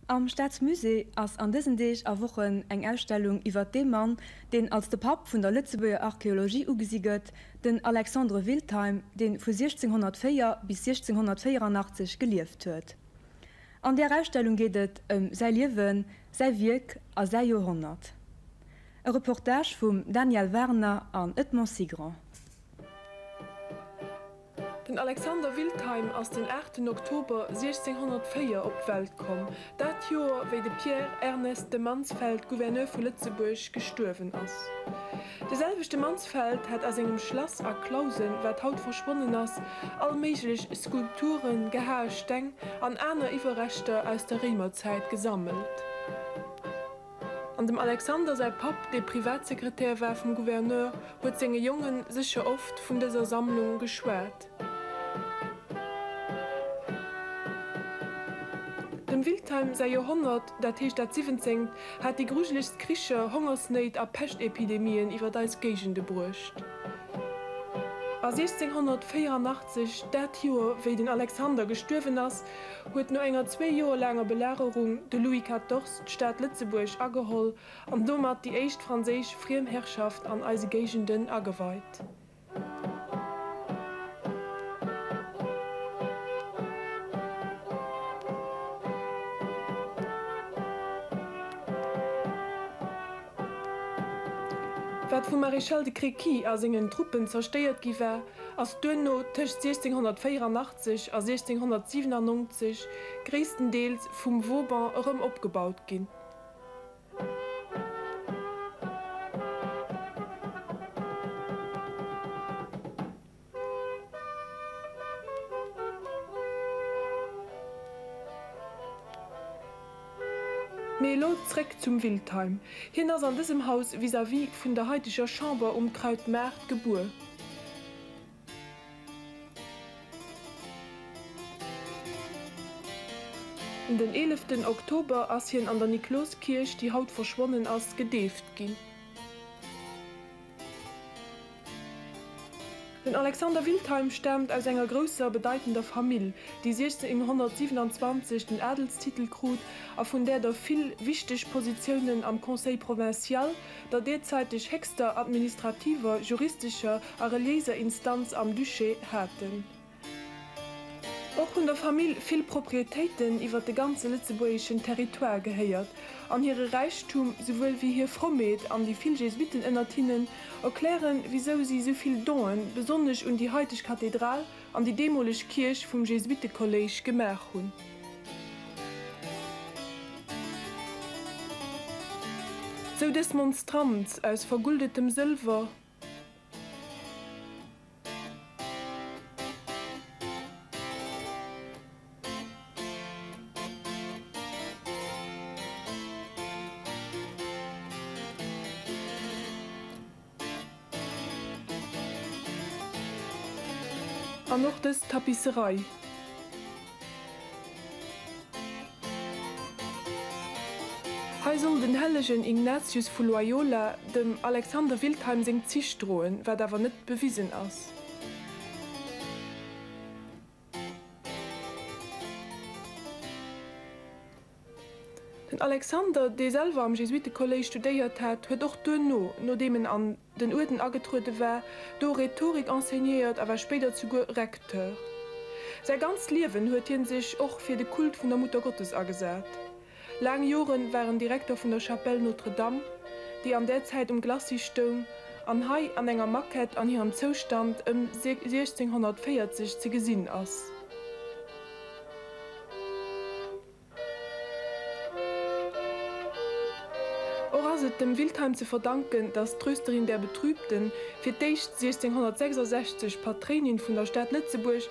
Am Staatsmusée ass an dësen Deeg a Wochen eng Ausstellung iwwert dee Mann, deen als de Papp vun der Lëtzebuerger Archeologie ugesi gëtt, den Alexandre Wiltheim, dee vu 1604 bis 1684 gelieft huet. An där Ausstellung geet et ëm säi Liewen, säi Wierk a säi Joerhonnert. E Reportage vum Daniel Warner an Edmond Sigrand. Den Alexander Wiltheim ass den 8 Oktober 1604 op d'Welt komm, dat Joer wéi de Pierre Ernest de Mansfeld, Gouverneur vu Lëtzebuerg, gestuerwen ass. De selwechte Mansfeld hat a sengem Schlass A Clausen, wat haut verschwonnen ass, all méiglech Skulpturen, gehae Steng an aner Iwwerreschter aus der Réimerzäit gesammelt. An dem Alexander säi Papp, dee Privatsekretär war vum Gouverneur, huet senge Jonge sécher oft vun dëser Sammlung geschwat. Dem Wiltheim säi Joerhonnert, dat heescht dat siwwenzengt, hat déi grujelegst Kricher, Hongersnéit a Peschtepidemien iwwer eis Géigende bruecht. A 1684, dat Joer, wéi den Alexander gestuerwen ass, huet no enger zwee Joer laanger Belagerung de Louis XIV. d'Stad Lëtzebuerg ageholl an domat déi éischt franséisch Friemherrschaft an eise Géigenden ageweit. Wat vum Maréchal de Créqui a sengen Truppen zerstéiert gi war, ass duerno tëscht 1684 sech a 1697 gréisstendeels vum Vauban erëm opgebaut ginn. Mee elo zréck zum Wiltheim. Hien ass an dësem Haus vis-à-vis vun der haiteger Chamber um Krautmaart gebuer. Den eeleften Oktober ass hien an der Nikloskierch, déi haut verschwonnen ass, gedeeft ginn. Den Alexander Wiltheim staamt aus enger grousser, bedeitender Famill, déi 1627 den Adelstitel krut a vun där der vill wichteg Positiounen am Conseil provincial, der deerzäiteg héchster administrativer, juristescher a reliéiser Instanz am Duché haten. Och hunn der Famill vill Proprietéiten iwwer de ganze lëtzebuergeschen Territoire gehéiert, an hire Räichtum souwuel wéi hir Frommheet an déi vill Jesuitten ënnert hinnen erklären, wisou si souvill Donen, besonnesch un déi haiteg Kathedral, an déi deemoleg Kierch vum Jesuittekolléisch gemaach hunn. Sou dës Monstranz aus verguldetem Sëlwer. An och dës Tapisserei. Hei soll den hellegen Ignatius vu Loyola dem Alexander Wiltheim seng Zich droen, wat awer net bewisen ass. Den Alexander, dee selwer am Jesuitekolléisch studéiert hat, huet och duerno, nodeem en an den Uerden agetruede war, do Rhetorik enseignéiert a war spéider zuguer Recteur. Säi ganzt Liewen huet hie sech och fir de Kult vun der Muttergottes agesat. Laang Joren war en Direkter vun der Chapelle Notre Dame, déi an där Zäit um Glacis stoung an hei an enger Maquette an hirem Zoustand ëm 1640 ze gesinn ass. Och ass et dem Wiltheim ze verdanken, datt d'Trösterin der Betrübten, fir d'éischt 1666 Patréinin vun der Stad Lëtzebuerg,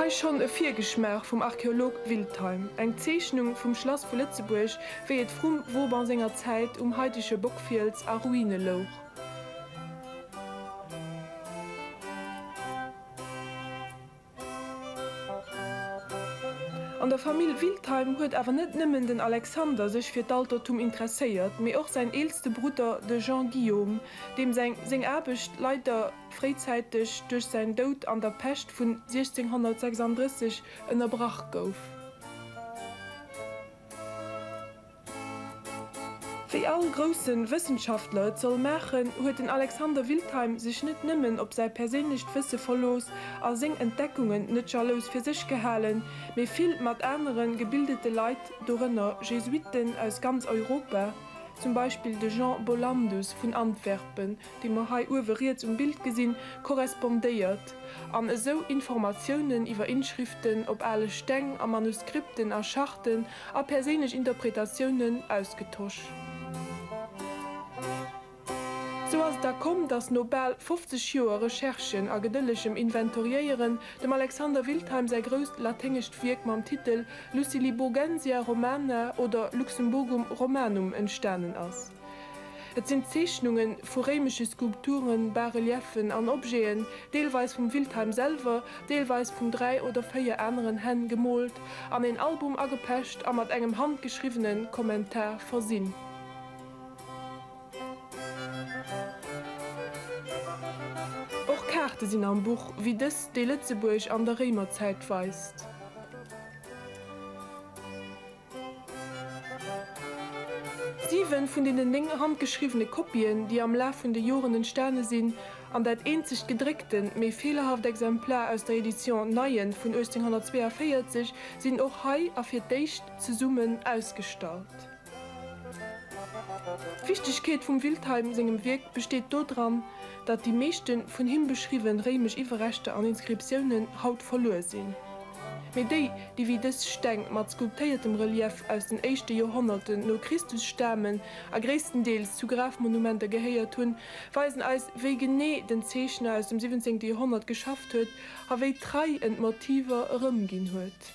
Hei schonn e Virgeschmaach vum Archeolog Wiltheim, eng Zeechnung vum Schlass vu Lëtzebuerg, wéi et vrum Vauban senger Zäit um haitege Bockfiels a Ruine louch. An der Famill Wiltheim huet awer net nëmmen den Alexander sech fir d'Altertum interesséiert, mee och säin eelste Brudder, de Jean Guillaume, deem säi seng Aarbecht leider fréizäiteg duerch säin Doud an der Pescht vun 1636 ënnerbrach gouf. Wéi all grousse Wëssenschaftler et soll maachen, huet den Alexander Wiltheim sech net nëmmen op säi perséinlecht Wësse verlooss a seng Entdeckungen net jalous fir sech gehalen, mee vill mat anere gebildete Leit, dorënner Jesuitten aus ganz Europa, zum Beispill de Jean Bollandus vun Antwerpen, déi mer hei uewe riets um Bild gesinn, korrespondéiert an esou Informatiounen iwwer Inschriften op ale Steng a Manuskripten a Charten a perséinlech Interpretatiounen ausgetosch. Sou ass et da komm, datt no bal 50 Joer Recherchen a gedëllegem Inventoriéieren dem Alexander Wiltheim säi grousst laténgescht Wierk mam Titel Luciliburgensia Romana oder Luxemburgum Romanum entstanen ass. Et sinn Zeechnunge vu réimesche Skulpturen, Bas-Reliefen an Objeten, deelweis vum Wiltheim selwer, deelweis vun dräi oder véier aneren Hänn, gemoolt, an een Album agepecht a mat engem handgeschriwwene Kommentar versinn. Och Kaarte sinn am Buch, wéi dës, déi Lëtzebuerg an der Réimerzäit weist. Siwen vun deenen néng handgeschriwwene Kopien, déi am Laf vun de Joren entstane sinn, an dat eenzegt gedréckte, méi feelerhaft Exemplar aus der Edition Neyen vun 1842, sinn och hei a fir d'éischt zesummen ausgestallt. D'Wichtegkeet vum Wiltheim sengem Wierk besteet dodran, datt déi meeschte vun him beschriwwen réimesch Iwwerreschter an Inskriptiounen haut verluer sinn, mee déi, déi wéi dës Steng mat skulptéiertem Relief aus den éischte Joerhonnerten no Christus stamen a gréisstendeels zu Grafmonumenter gehéiert hunn, weisen eis, wéi genee den Zeechner aus dem siwwenzéngte Joerhonnert geschafft huet a wéi trei en d'Motiver erëmginn huet.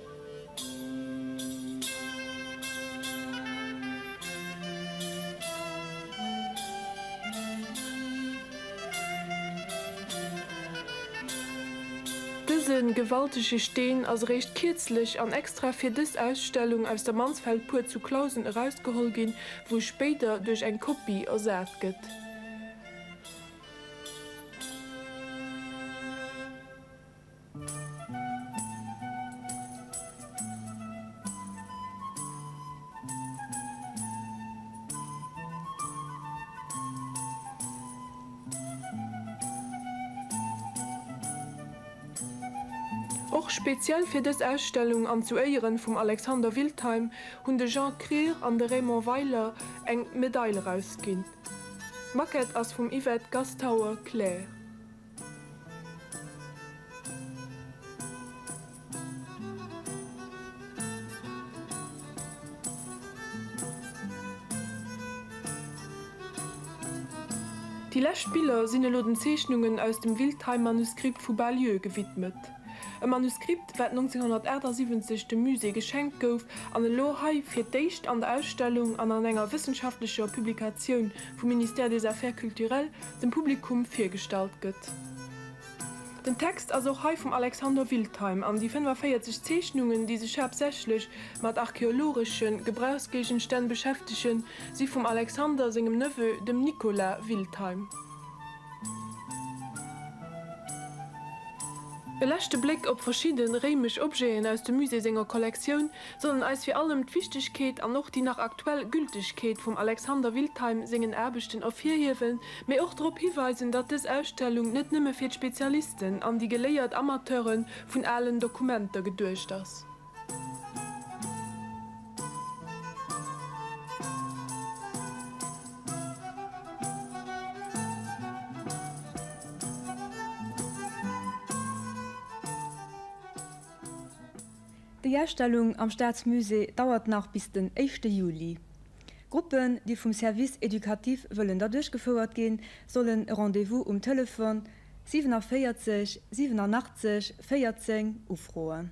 Dëse gewaltege Steen ass eréischt kierzlech an extra fir dës Ausstellung aus der Mansfeldbuer zu Clausen erausgeholl ginn, wou e spéider duerch eng Kopie ersat gëtt. Och speziell fir dës Ausstellung an zu Éieren vum Alexander Wildheim hunn de Jean Krier an de Raymond Weiler eng Medail erausginn. D'Maquette ass vum Yvette Gastauer-Claire. Déi lescht Biller sinn elo den Zeechnungen aus dem Wiltheim-Manuskript vu Bas-Lieu gewidmet. E Manuskript, wat 1978 dem Musée geschenkt gouf an elo hei fir d'éischt an der Ausstellung an an enger wëssenschaftlecher Publikatioun vum Ministère des Affaires culturelles dem Publikum virgestallt gëtt. Den Text ass och hei vum Alexander Wiltheim an déi 45 Zeechnungen, déi sech haaptsächlech mat archeologesche Gebrauchsgéigenstänn beschäftegen, si vum Alexander sengem Neveu, dem Nicolas Wiltheim. E leschte Bléck op verschidde réimesch Objeten aus dem Musée senger Kollektioun sollen eis fir allem d'Wichtegkeet an och déi nach aktuell Gültegkeet vum Alexander Wiltheim sengen Aarbechten ervirhiewen, mee och drop hiweisen, datt dës Ausstellung net nëmme fir d'Spezialisten an déi geléiert Amateure vun alen Dokumenter geduecht ass. Déi Ausstellung am Staatsmusée dauert nach bis den éischte Juli. Gruppen, déi vum Service éducatif wëllen der duerchgefouert ginn, sollen e Rendez-vous um Telefon 47 87 14 ufroen.